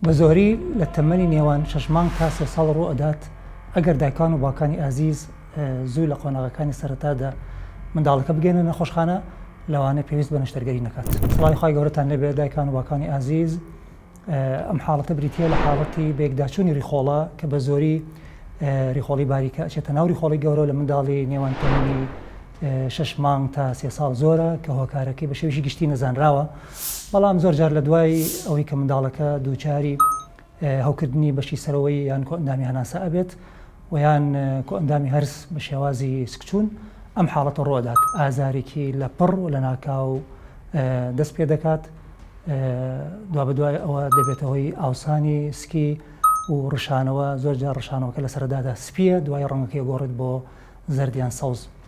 بە زۆری لە تەمەنی نێوان شەش مانگ تا سێ ساڵ ڕوو ئەدات، ئەگەر دایکان و باوکانی ئازیز زوو لە قۆناغەکانی سەرەتادا منداڵەکە بگەێننە نەخۆشخانە لەوانەیە پێویست بە نەشتەرگەری نەکات. سڵاوی خوای گەورەتان لێ بێت دایکان و باوکانی ئازیز، ئەم حاڵەتە بریتییە لە حاڵەتی بەیەکداچوونی ڕیخۆڵە کە بە زۆری ڕیخۆڵی باریکە ئەچێتە ناو ڕیخۆڵی گەورە و لە منداڵی نێوان تەمەنی شەش مانگ تا سێ ساڵ زۆرە کە هۆکارەکەی بە شێوەیەکی گشتی نەزانراوە. بەڵام زۆر جار لە دوای ئەوەی کە منداڵەکە دووچاری هەوکردنی بەشی سەرەوەی یان کۆئەندامی هەناسە ئەبێت و یان کۆئەندامی هەرس بە شێوازی سکچوون ئەم حاڵەتە ڕۆدات ئازارێکی لە پڕ و لە ناکاو دەست پێ دەکات دوا بە دوای ئەوە دەبێتە هۆی ئاوسانی سکی و ڕشانەوە زۆر جار ڕشانەوەکە لە سەردادا سپیە دوای ڕەنگەکەی گۆڕێت بۆ زەردیان سەوز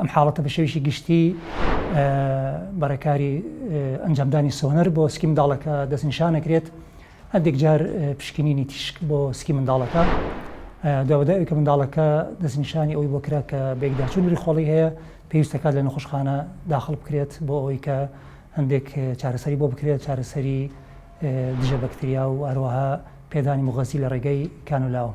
ئەم حاڵەتە بە شێوەیەکی گشتی بە ڕێکاری ئەنجامدانی سۆنەر بۆ سکی منداڵەکە دەستنیشان نەکرێت هەندێک جار پشکنینی تیشک بۆ سکی منداڵەکە داواداوی کە منداڵەکە دەستنیشانی ئەوی بۆ کرا کە بێکداچوون وری خۆڵی هەیە پێویستەکات لە نەخۆشخانە داخڵ بکرێت بۆ ئەوەی کە هەندێک چارەسەری بۆ بکرێت چارەسەری دژە بەکتریا و هەروەها پێدانی مغەزی لە ڕێگەی کانولاوە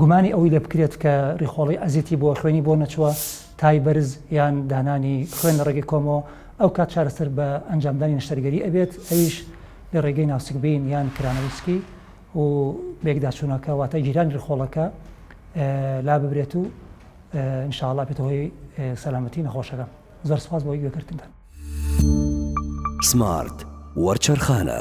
گومانی ئەوەی لێ بکرێت کە ڕیخۆڵی ئەزیتی بۆ خوێنی بۆ نەچووە تای بەرز یان دانانی خوێن لە ڕێگەی کۆمەوە ئەو کات چارەسەر بە ئەنجامدانی نەشتەرگەری ئەبێت ئەویش لە ڕێگەی ناوسکبین یان کرانەوسکی و بێکداچوونەکە واتە گیرانی ڕیخۆڵەکە لا ببرێت و انشاءاللە بێتە هۆی سەلامەتی نەخۆشەکە زۆر سپاس بۆی گوێکردنتان سمارت وەرچەرخانە